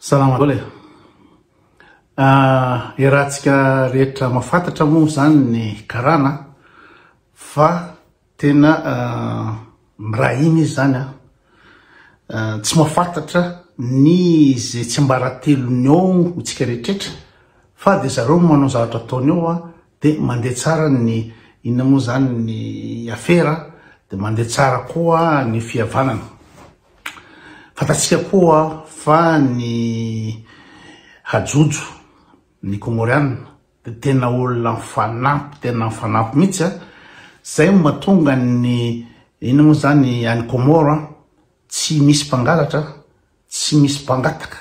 Salama daholo e. Ah, iarahantsika rehetra mahafantatra moa izany ny karana fa tena ah, mirahina izy izany ah. ah. Tsy mahafantatra ny izay tsy mbaratelony eo hotsika rehetrretra fa dia zareo manao zavatra ataony eo ah, dia mandeha tsara ny inona moa izany ny afera dia mandeha tsara koa ny fihavanana. Fantatsika koa fa ny hajojo, ny Kômôriana, dia tena olona mifanampy, tena mifanampy mihitsy an! Izay no mahatonga ny, inona moa izany, any Kômôro an, tsy misy mpangalatra, tsy misy mpangataka,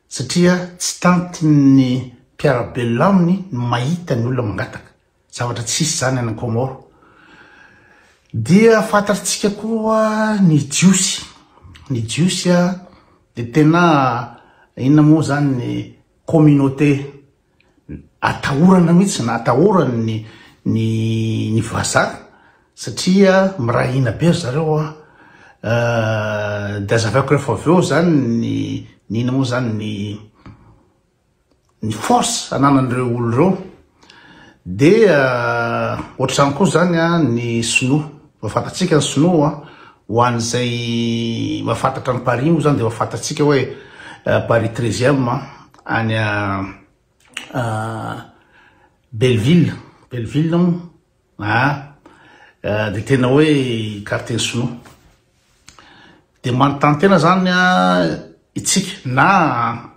satria tsy tantin'ny mpiara-belona aminy ny mahita ny olona mangataka. Zavatra tsisy zany any Comore. Dia fantatrtsika koa ny jiosy. Ny jiosy dia tena inona moa zany ny communauté atahorana mihitsy na atahorany ny ny vazaha satria miray hina be ry zareo an. Dia azavaiko rehefa avy eo zany ny inona moa zany ny. ny force ananan'ireo olo ireo dia ohatr'izany koa zany ny sinoa fa fantatsika ny sinoa ho an'izay mahafantatra an'i Paris moa zany dia efa fantatsika hoe Paris treizième any Belleville Belleville Aa dia tena hoe hikarte ny sinoa. Dia manontany tena zany itsika na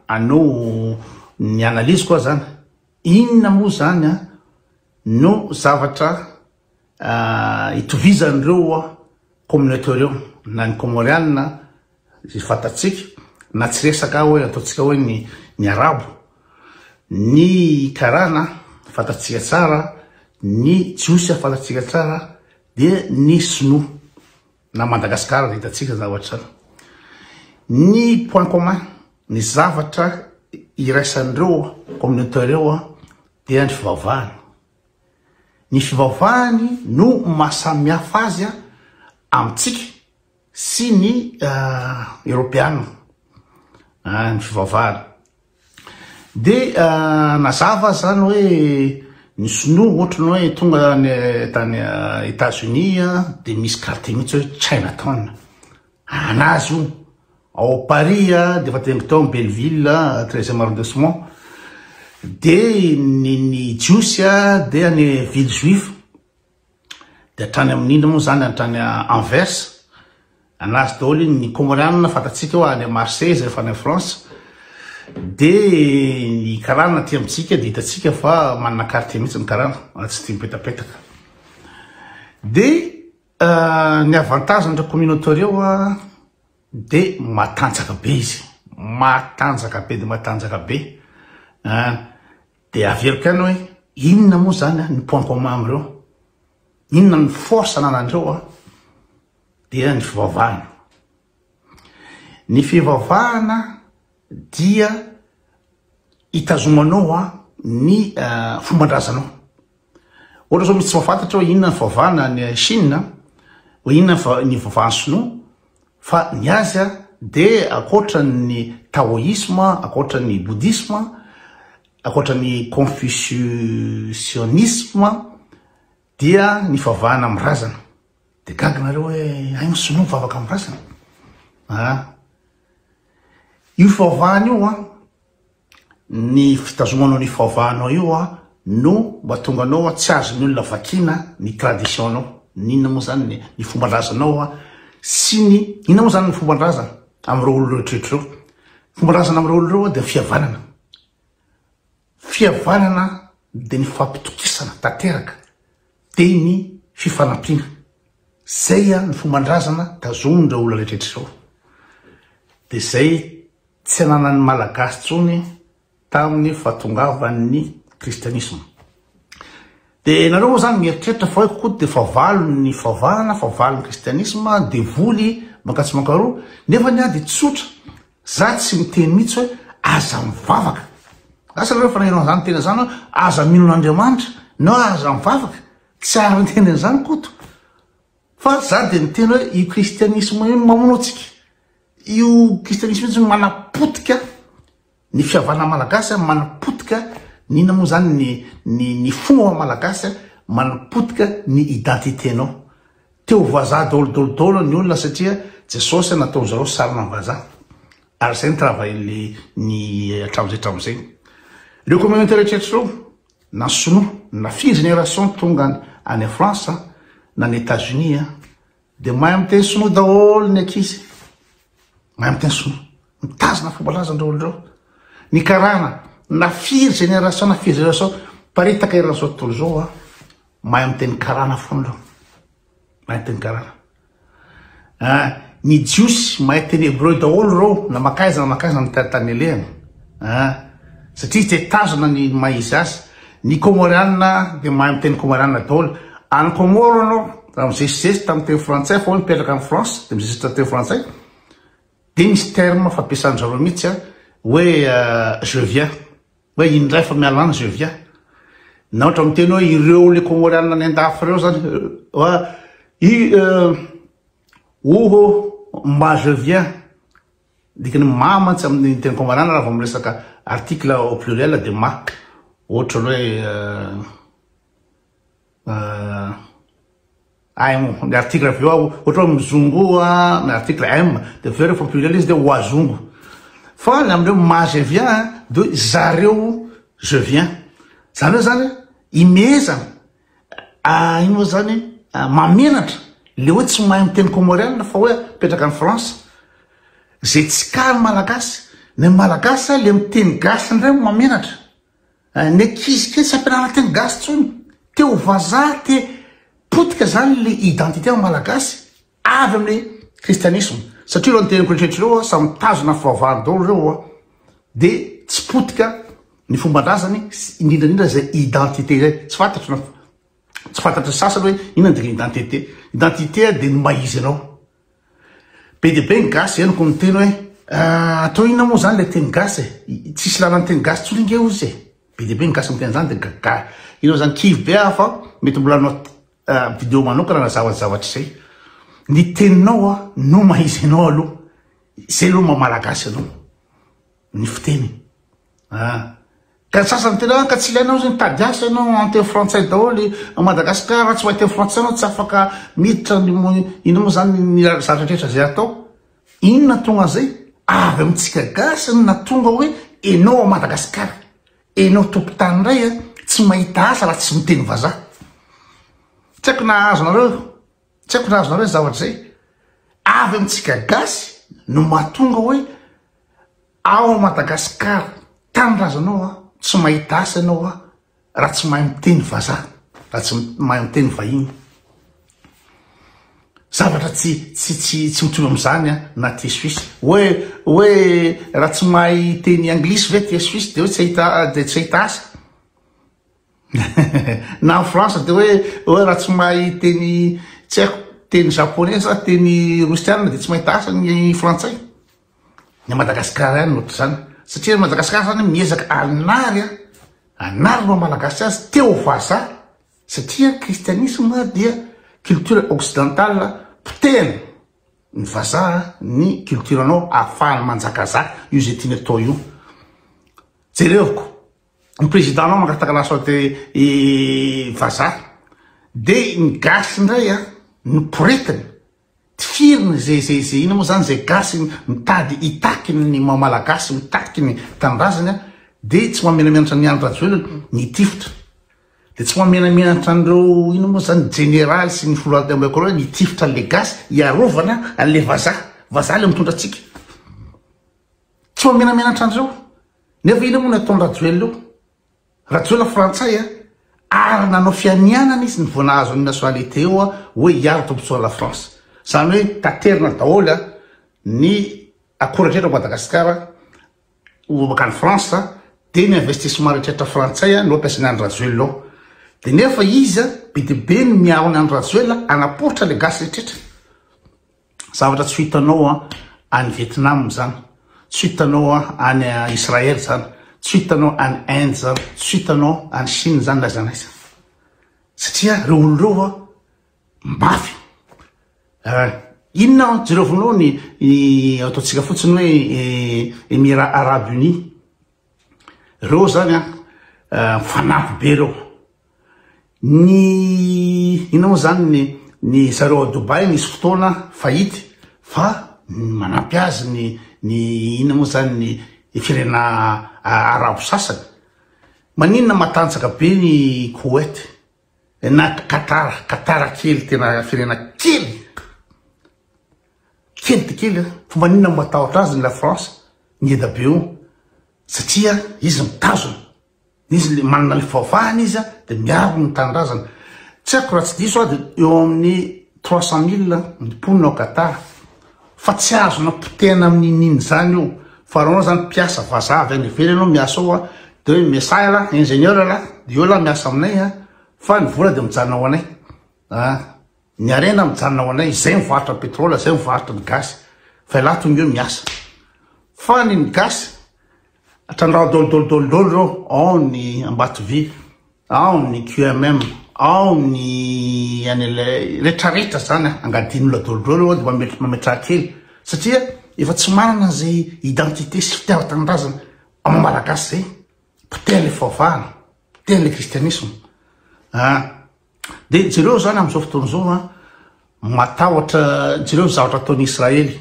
anao ny analyse ko zany inona moa zany no zavatra hitovizan'ireo communauté ireo na ny comorianina Izay fantatsika, na tsy resaka hoe ataontsika hoe ny ny Arabo, ny Karana fantatsika tsara, ny Jiosy fantatsika tsara, dia ny Sinoa na Madagasikara dia hitantsika izany zavatra izany. Ny point commun, ny zavatra iraisan'ireo communauté ireo dia ny fivavahana. Ny fivavahany no maha samihafa azy amintsika. sy ny Eropeana ny fivavahana. Dia nazava izany hoe ny Sinoa ohatry ny hoe tonga tany Etats-Unis dia misy quartier mihitsy hoe Chinatown, anazy io, ao Paris dia efa tendry teo amin'ny Belleville treizième arrondissement, dia ny Jiosy dia any ville juive. Dia hatrany amin'ny inona moa izany, hatrany Anvers, an'azy daholo iny, ny Kômôrianina fantatsika eo any Marseille izay efa any France, dia ny karana aty amintsika dia hitantsika fa manana quartier mihitsy ny karana, raha tsy tia mipetapetaka. Dia euh, ny avantagen'ireo communauté ireo dia matanjaka be izy, matanjaka be dia matanjaka be, hein. Dia averiko ihany hoe inona moa izany ny point commun amin'ireo? Inona ny force ananan'ireo? Dia ny fivavahana. Ny fivavahana dia itazomanao ny fomban-drazanao. Ohatra zao misy tsy mahafantatra hoe inona ny fivavahana any Chine, hoe inona ny fivavahan'ny sinoa, fa ny azy dia ankoatra ny taoisma, ankoatra ny bodisma, ankoatra ny confucianisme dia ny fivavahana amin'ny razana. Dia gaga nareo hoe hay ny sinoa mivavaka amin'ny razana? Io fivavahana io an, Ny fitazomanao ny faovahanao io an no mba tonga anao an tsy azon'ny olona vakiana ny tradition-nao ny inona moa zany ny ny fomban-drazanao an sy ny inona moa zany ny fomban-drazana amin'ireo olona rehetra ireo fomban-drazana amin'ireo olona ireo an dia fihavanana fihavanana dia ny fampitokisana tanteraka dia ny fifanampiana zay an ny fomban-drazana tazomin'ireo olona rehetra ireo dia zay Tsy ananan'ny Malagasy intsony tamin'ny fahatongavan'ny kristianisma. Dia nareo moa zany mieritreritra fa hoe koa dia fahavalon'ny fahavahana, fahavalon'ny kristianisma, devoly, mankatso mankaroa, nefa ny ady tsotra, za tsy miteny mihitsy hoe aza mivavaka. Asa nareo fanahirana izany tena izany hoe aza mino an'Andriamanitra, na aza mivavaka, tsy ary miteny an'izany koto. Fa za dia miteny hoe io kristianisma io no mamono antsika. Io kristianisma io zany manapotika ny fihavanan'ny malagasy a, manapotika ny inona moa zany ny ny ny fo ao amin'ny malagasy a, manapotika ny identité-nao. Te ho vazaha daholo daholo daholo ny olona satria Jesosy a nataon'i zareo sarina ny vazaha ary zay ny travail-ny ny hatramin'izay hatramin'izay. Reo communauté rehetraretra reo na sinoa na firy génération tonga any France a na any Etats-Unis a Dia mahay miteny sinoa daholo ny ankizy. Mahay miteny sinoa. Mitazona fombalazany ireo olona ireo. Ny karana, na firy génération, na firy génération, paritaka eran'izao tontolo izao, ah. mahay miteny karana foana ireo. Mahay miteny karana. Ah, ny jiosy, mahay teny hebreu daholo ireo, na makaiza na makaiza ny tany alehany. Ah, satria te tazona ny maha izy azy. Ny Kômôriana dia mahay miteny Kômôriana daholo. Any Kômôro ianao, raha mizesizesy tamin'ny teny frantsay fa hoe mipetraka any France dia mizesizesy tamin'ny teny frantsay, dia misy terme fampiasan-dry zareo mihitsy hoe je viens, hoe indray fa miala any, je viens. Na ohatra miteny hoe ireo ilay Kômôriana any an-dafy ireo izany, hoe i, oho, mba je viens. Dika ny mah mantsy amin'ny teny komanana raha vao miresaka article au pluriel dia mah. Ohatra ny hoe aim ny article avy eo aho ohatra hoe mizongo aho ny article aim dia avy eo rehefa pluriel izy dia wazongo. Fa ny amin'ireo mah je viens dia hoe zareo je viens. Izany hoe izany hoe himehezana. Ah ino moa zany ah, mamenatra le hoe tsy mahay miteny comoriana fa hoe petraka any France zay tsy ka ny malagasy ny malagasy ah, le miteny gasy ndray mamenatra ah, ny ankizy kely tsy ampianarina teny gasy tsony te ho vazaha te potika zany le identité ny malagasy avy amin'ny kristianisma satria ireo niteny preacher ireo a samy mitazona fivavahany daholo ireo a de tsy potika ny fomban-drazany sy indrindra indrindra izay identité izay tsy fantatro na tsy fantatry ny sasany hoe inona ny dikany identité identité a de ny maha izy anao be dia be ny gasy henoko miteny hoe ah, atao inona moa zany le teny gasy e eh? tsisy lalany teny gasy tsony nge ozy e eh? be dia be ny gasy miteny zany de gaga ireo zany kivy be aho fa mety mbola anao Video manokana nazava ny zavatra izay. Ny teninao a no mahaiza anao aloha. Izay aloha maha malagasy anao. Ny fiteny. Ah. Ka ny sasany tena ka tsy ilaina hozy mitady asa ianao en teny frantsay daholo a Madagascar raha tsy mahay teny frantsay ianao tsy afaka miditra ny inona moa zany ny zavatra rehetra izay atao. Inona tonga an'izay? Avy amintsika gasy no nahatonga hoe enao ao Madagascar. Enao tompotany ndray a, tsy mahita asa raha tsy miteny vazaha. Tsy haiko na azonareo, tsy haiko na azonareo zay zavatra zay. Avy amintsika gasy no mahatonga hoe ao Madagascar tanindrazanao a, tsy mahita asa enao a, raha tsy mahay miteny vazaha, raha tsy mahay miteny vahiny. Zavatra tsy tsy tsy tsy mitovy amin'izany a na ty Suisse. Hoe hoe raha tsy mahay teny anglisy ve ty Suisse dia hoe tsy hahita dia tsy hahita asa. na en France dia hoe hoe raha tsy mahay teny tsy haiko teny japonais sa teny rosiana dia tsy mahita asa ny frantsay. Ny an'i Madagasikara ihany no ohatr'izany. Satria an'i Madagasikara izany miezaka hanary a, hanary ny maha-malagasy azy te ho vazaha. Satria ny kristianisma dia culture occidentale, potehiny ny vazaha ny culture anao ahafahany manjakazaka io izay tiany atao io. Jereo ko ny président anao mangataka la santé i vazaha dia ny gasy indray a no poretiny Tifiriny ze ze ze ino mo zany ze gasy mitady hitaky ny maha malagasy mitaky ny tanindrazany a de tsy mahamenamenatra an'i Andry Rajoelina ny tifitra de tsy mahamenamenatra an'ireo ino mo zany jeneraly sy ny filohantenambahoaka ireo ny tifitra an'le gasy hiarovana an'le vazaha vazaha le mitondra antsika tsy mahamenamenatra an'ireo nefa ino mo ny ataon'i Rajoelina eo Rajoelina frantsay a! ary nanao fianianana izy ny vao nahazo ny nationalité eo a! hoe hiaro tombotsoa la France! zany hoe taterina daholy a! ny akora rehetra ao Madagasikara ho makany France a! dia ny investissement retrretra frantsay a! no ampiasainy any Rajoelina ao! dia nefa izy a! be dia be ny miaro ny any Rajoelina hanaporitra le gasy retrretra! Zavatra tsy ho hitanao any Vietnam izany, tsy ho hitanao any Israel izany, tsy ho hitanao any Inde izany, tsy ho hitanao any Chine izany na aiza na aiza. Satria ireo olona ireo mafy. Eh, inona aho jerevinao ny ataontsika fotsiny hoe eh, Emirats Arabes Unis. Ireo izany an, eh, fanampy be ireo. Ny inona moa izany ny zareo ao Dubaï misy fotoana fahity fa manampy azy ny ny inona moa izany ny ny firenena arabo sasany. Maninona matanjaka be ny Koweït na Qatar, Qatar kely tena firenena kely, kely dia kely an! Fa maninona matahotra azy ny la France mieda-be eo satria izy mitazona. Izy le manana le faovahana izy de miaro ny tanindrazana. Tsy haiko raha tsy diso aho de eo amin'ny trois cent mille ny mponina ao Qatar. Fa tsy azona potehina amin'ny nini zany io. Fa anao zany mpiasa vazaha avy any ivelany anao miasa ao a de hoe messah elah, ingenieur elah, de eo elah miasa aminay a fa ny vola de mijanona ho anay. Ny harena mijanona ho anay, izay mivarotra ny pétrole, izay mivarotra ny gasy, fa ialahy tonga eo miasa. Fa ny ny gasy, trandraho daholo daholo daholo daholo ireo, ao ny Ambatovy, ao ny QMM, ao ny an'ilay retraretra zany angadian'olona daholo daholo ao dia mametraha kely satria efa tsy manana izay identité sy fitiavan-tanindrazana amin'ny malagasy izay, potehan'ilay fivavahana, potehan'ilay kristianisma. Dia jereo izany amin'izao fotoana izao an, matahotra, jereo ny zavatra ataon'i Israely,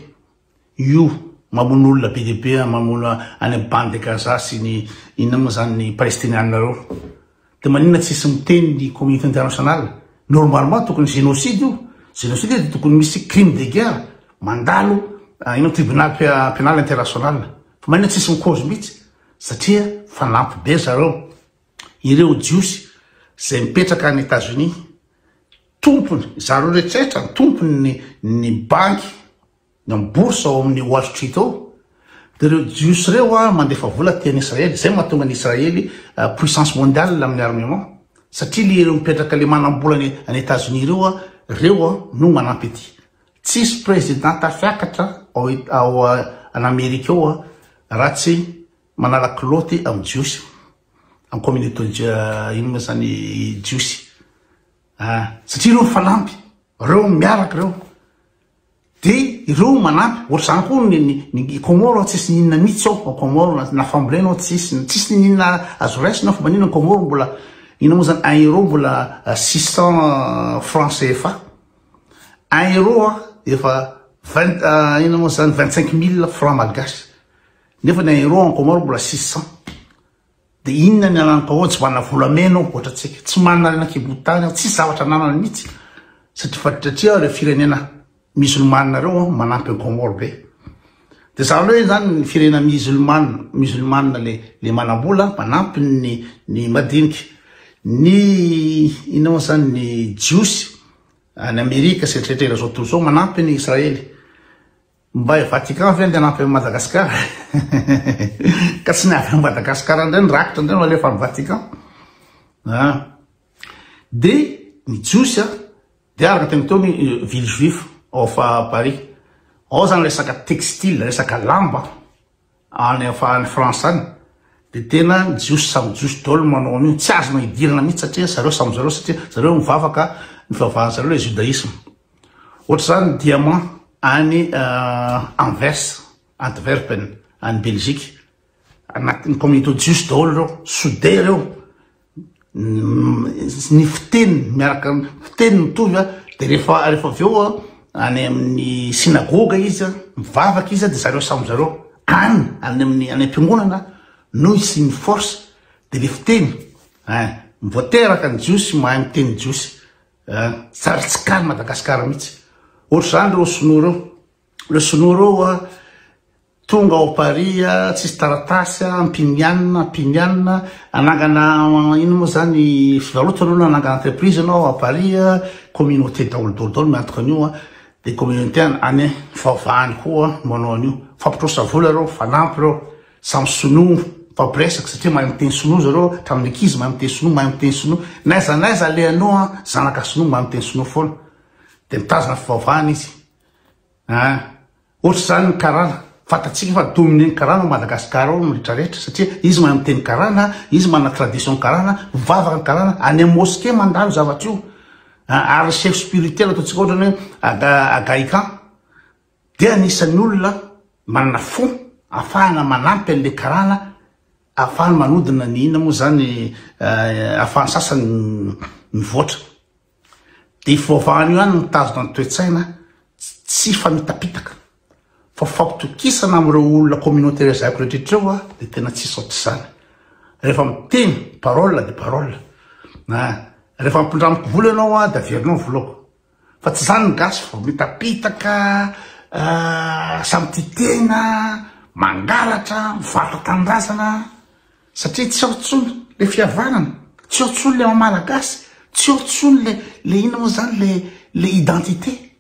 io mamono olona be dia be an, mamono any amin'ny bande de Gaza sy ny inona moa izany ny Palestiniana ireo. Dia maninona tsy hisy miteny ny communauté internationale? Normalement tokony génocide io, génocide io dia tokony misy crime de guerre, mandalo inona tribunal pénal international. Fa maninona tsy hisy mi-cause mihitsy? Satria fanampy be zareo. Ireo Jiosy izay mipetraka any Etazonia, tompony, zareo rehetra no tompony ny banky, ny bourse ao amin'ny Wall Street ao, dia ireo Jiosy ireo an mandefa vola aty any Israely, izay no mahatonga an'i Israely puissance mondiale amin'ny armement, satria le ireo mipetraka le manam-bola any any Etazonia ireo an, ireo an no manampy aty. Tsisy président tafiakatra ao ao an'Amerika ao an raha tsy Manala kilaoty amin'ny Jiosy. Amin'ny communauté inona moa izany Jiosy a! Satria ireo mifanampy, ireo miaraka ireo. Dia ireo manampy. Ohatr'izany koa ny ny Comores aho tsisy n'inona mihitsy ao ao Comores na fambolena aho tsisy, tsisy n'inona azo raisina fa maninona ny Comores mbola inona moa izany un euro mbola six cents francs CFA. Un euro efa vingt inona moa izany vingt cinq mille francs malgaches. Nefa ny Aero en Comore mbola six cent de inona ny anan'ny Pao tsy manana volamena ao ohatra tsika tsy manana rena kibo tany ao tsisy zavatra ananany mitsy satria faditratria ireo firenena musulmane reo an manampy en Comore be de za loe zany ny firena musulmane musulmane le le manambola manampy ny ny madinika ny inona moa zany ny jiosy any Amerika sy eritreritera zao tontolo zao manampy ny Israely Mba i Vatican ve nde hanampy an'i Madagascar? Ka tsy ny avy any Madagascar indray ny rakitra indray no alefa any Vatican? Ah. De ny Jiosy a, de araka teny teo ny euh, ville juif of euh, Paris. Ao zany resaka textile, resaka lamba. Any am any France any de tena jiosy samy jiosy daolo manao an'io tsy azonao idirana mihitsy satria zareo samy zareo satria zareo mivavaka ny fivavahan zareo le judaisme ohatra zany diamant any euh, Anvers Antwerpen any Belgique anatin'ny communauté jiosy daolo reo soude reo ny fiteny miaraka fiteny mitovy a de rehefa rehefa avy eo a any amin'ny synagoga izy a mivavaka izy a de zareo samy zareo any any amin'ny any am-piangonana no isian'ny force de le fiteny ein voateraka ny jiosy mahay miteny jiosy ein sary tsy kany madagasikara mihitsy ohatr'izany reo sinoa reo reo sinoa reo a Tonga ao Paris a, tsisy taratasy a, mpinianina, mpinianina, anangana ino moa zany, fivarotana anao na anangana entreprise anao à Paris a, communauté daholo daholo daholo miantoka an'io a, de communauté any any faovany koa manao an'io, mifampitrosa vola reo, mifanampy reo, samy sinoa, mifampiresaka satria mahay miteny sinoa zareo hatramin'ny ankizy mahay miteny sinoa, mahay miteny sinoa, n'aiza n'aiza alehanao a, zanaka sinoa mahay miteny sinoa foana, de mitazona fivaovana izy, ah. Ohatr'izany ny karana, fantatsika fa dominée ny karana ao Madagasikara ao ny rehetra rehetra satria izy manana teny karana, izy manana tradition karana, mivavaka ny karana, any amin'ny mosquée mandalo zavatra io, ary chef spirituel ataontsika ohatra ny hoe Agaican dia anisan'ny olona manana fo afahana manampy an'ilay karana afahany manodina ny inona moa izany afahan'ny sasany mivoatra. Dia io fivavahana io ihany no mitazona ny toe-tsaina tsy famitapitaka. Fa fampitokisana amin'ireo olona communauté lazaiko rehetra ireo aho dia tena tsisy ohatr'izany. Rehefa miteny, parole dia parole. Ah, rehefa ampindramiko vola ianao aho dia averinao ny volako. Fa tsy izany ny gasy fa mitapitaka, ah, samy tia tena, mangalatra, mivarotra tanindrazana. Satria tsy ao tsony le fihavanana, tsy ao tsony le maha malagasy, tsy ao tsony le le inona moa zany le le identité.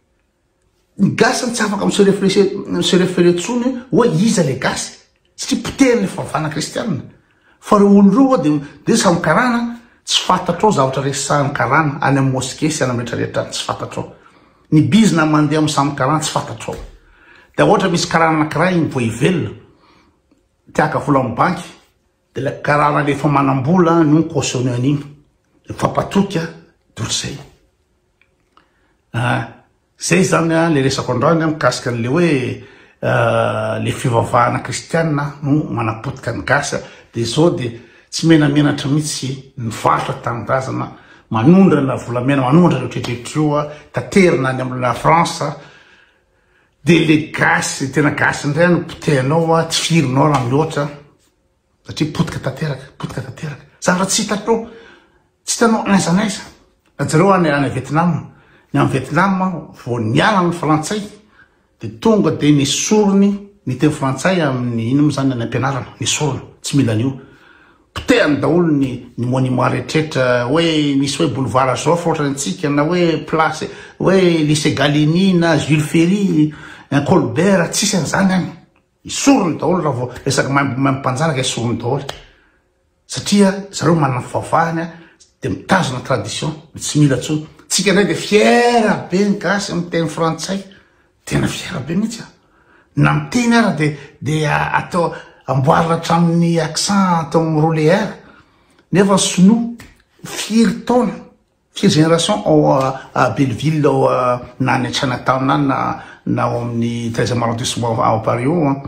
Ny gasy zany tsy afaka mi se refleshe mi se referer tsony hoe iza le gasy satria potehin'ny fivavahana kristianina. Fa reo olo reo oa de de samy karana tsy fantatrao zavatra resahan'ny karana any am mosquée sy any am rehetra rehetra any tsy fantatrao. Ny bizna mandeha am samy karana tsy fantatrao. De oatra misy karana anakiray igny vo hivelona. Te haka vola amin'ny banky, dia ilay karana ilay efa manam-bola no mi-cautionner an'iny, mifampatoky an, dia ohatr'izay. Ah, izay izany an, ilay resako androany an, mikasika an'ilay hoe ilay fivavahana kristiana no manapotika ny gasy an, dia izao dia tsy menamenatra mihitsy ny varotra tanindrazana manondrana volamena, manondrana ireo tretr'ireo, taterina any amin'ilay France, Dia le gasy tena gasy indray no potehinao hoa tsy firinao raha mihoatra an! satria potika tanteraka, potika tanteraka, zavatra tsy hitanao, tsy hitanao aiza n'aiza, na jereo any any Vietnam, ny any Vietnam vao niala ny frantsay dia tonga dia nesoriny ny teny frantsay amin'ny ino mo zany any am-pianarana, nesorina, tsy mila an'io. Potehany daholo ny ny monument rehetrretra hoe misy hoe boulevard Joffre ohatra ny antsika na hoe place hoe lycée Gallieni na Jules Ferry na Colbert tsisy an'izany any. Esoriny daholo raha vao resaka maimbo maimbo mpanjanaka esoriny daholo satria zareo manana ny fivavahany a dia mitazona tradition dia tsy mila intsony. Tsika indray dia fier be ny gasy miteny frantsay Tena fier be mihitsy aho. Na miteny ara de de atao amboarina hatramin'ny accent atao amin'ny roulé air. Nefa ny sinoa firy taona, firy génération ao à Belleville ao na any Chinatown any na na ao amin'ny treizième arrondissement ao Paris ao an.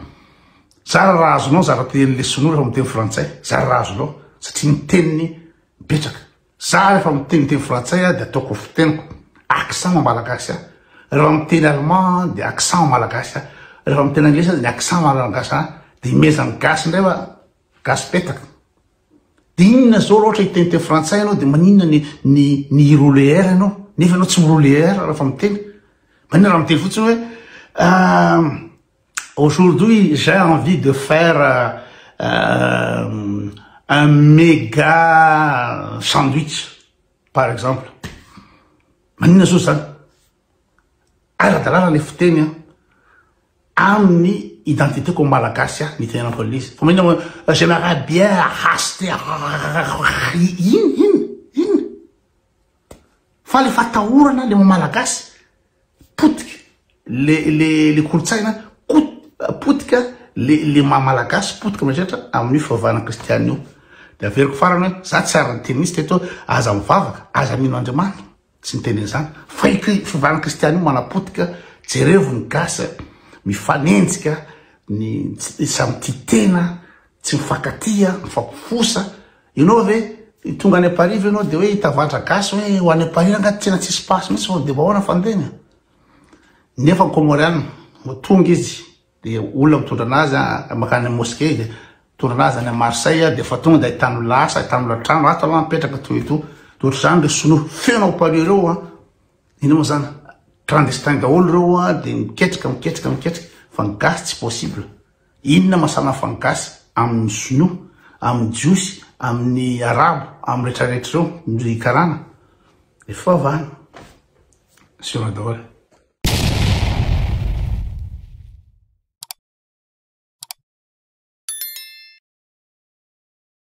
Zara raha azonao zara tenin'ilay sinoa rehefa miteny frantsay, zara raha azonao satria ny teniny mipetraka. Za refa miteny teny frantsay a de ataoko ho fiteniko accent en malagasy a, refa miteny allemand a de accent en malagasy a, refa miteny anglisy aza ny accent malagasy a, de imezan'ny gasy indray fa gasy petaka. De inona zao ra ohatra hiteny teny frantsay anao de maninona ny ny ny hi-roule R anao nefa anao tsy mi-roule R refa miteny? Maninona ra miteny fotsiny hoe ahh. Aujourd'hui j'ai envie de faire un méga sandwich par exemple. Maninona soa zany? Ara-dalàna le fiteny an. Amin'ny identité-ko amin'ny malagasy aho nitenenako an'izy. Fa maninona moa j'aimerais bien hasty inn inn inn fa le fatahorana le maha malagasy. potika le le le kolontsaina kot potika le le maha malagasy potika mieritreritra amin'io fivavahana kristianina io de averiko farany hoe za tsy ary ny teninista eto aza mivavaka aza mino andriamanitra tsy ny teny izany fa i fivavahana kristianina io manapotika jerevo ny gasy mifanenjika ny samy tia tena Tsy mifankatia, mifampifosa. Ianao ve tonga any Paris ve ianao dia hoe hitavadra gasy hoe ho any Paris angaha tena tsy hisy passe mihitsy sao dia vahoana fandehany a! Nefa ny Comoriana vao tonga izy dia olona mitondra anazy a, mankany amin'ny mosquée izy, mitondra anazy any Marseille dia efa tonga dia ahitany olona asa, ahitany olona trano, ato aloha mipetraka toy ito. Dia ohatr'izany ireo sinoa feno ao Paris ireo a! Inona moa izany? Clandestin daholo ireo a! Dia miketrika, miketrika, miketrika fa ny gasy tsy possible. Inona masanafa ny gasy aminy sinoa, aminy jiosy, aminy arabo, am rehetra rehetra reo ndry karana de fivavahana sinoa daholo.